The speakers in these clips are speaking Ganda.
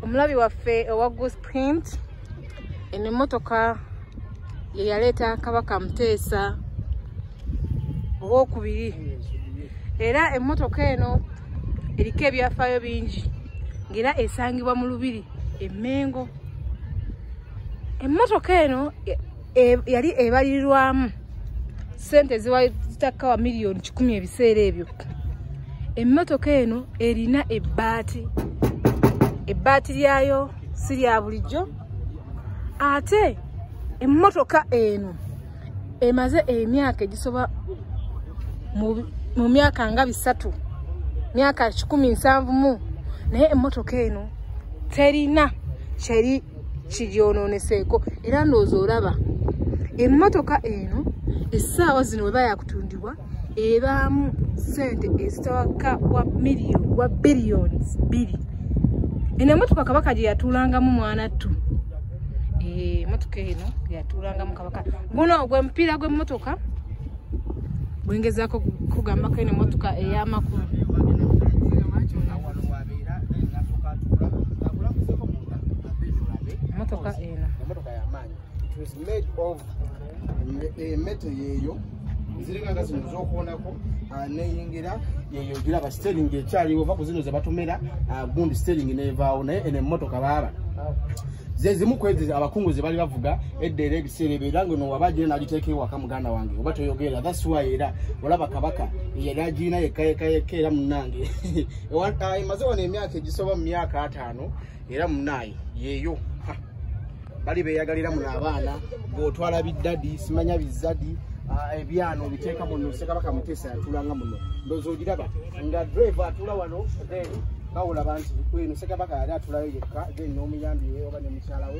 omulabi waffe owa gus print eno emmotoka ye yaleeta kabaka muteesa owokubiri era emmotoka eno eriko ebyafaayo bingi ngaera esangibwa mu lubiri emengo emmotoka eno e, yali ebalirirwamu sente eziwatakka wa miliyoni kikumi ebiseera ebyo emmotoka eno erina ebbaati ebbaati lyayo si lya bulijjo ate emmotoka eno emaze emyaka egisoba mu myaka nga bisatu myaka kikumi nsanvu mu naye emmotoka eno terina kyeri kigyonooneseeko era ndowooza olaba emmotoka eno essaawa zino weba yakutundibwa ebaamu sente ezitawaka wa million wa billions biri eno emmotoka kabaka gye yatuulangamu mwana ttu eh, emmotoka eno yatuulangamu kabaka guno gwe mupiira gw'emmotoka bwengezako kugambako eno emmotoka ey'amakulu motoka eno motoka yamaanyi it was made of emete eh, yeeyo ziringa nga zino zokuonako ah, neyingira yeyo giraba stering ekyaliwo va ku zino zebatumira ah, gundi stering nevaawo naye eno emotoka baaba zezimu kwezi abakungu zebali bavuga eddera ebiseera ebyo era ngeno waba agina nagiteeka ewaka muganda wange oba toyogeera thats why era olaba kabaka yali agiina yekka yekka yekka era munange Ah, emaze wano emyaka egisoba mu myaka ataano era munaayi yeeyo ah, bali beeyagalira muno abaana gweotwala biddadi simanya bizadi ah, ebyana obiteeka muno sekabaka muteesa yatulanga muno ndoza ogiraba nga drive atula wano then bawulaba nti kweno sekabaka yali atulayo yekka then n'omuyambi we oba ne mukyala we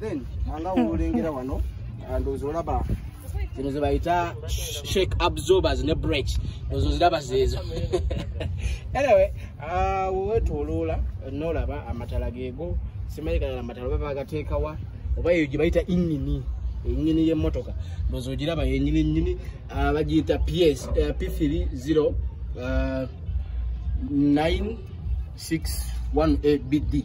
then anga ulengera wano ndozi olaba zino zebayita shake absorbers ne break ozo ziraba zeezo anyway ah, wetwoloola nolaba amatala geego simanyi kalala amatala oba bagateekawa oba eyo gye bayita inyini enyini y'emmotoka ozo ogiraba yenyini nyini ah, bagiyita ps eh, p 3 0 9 6 1 a bd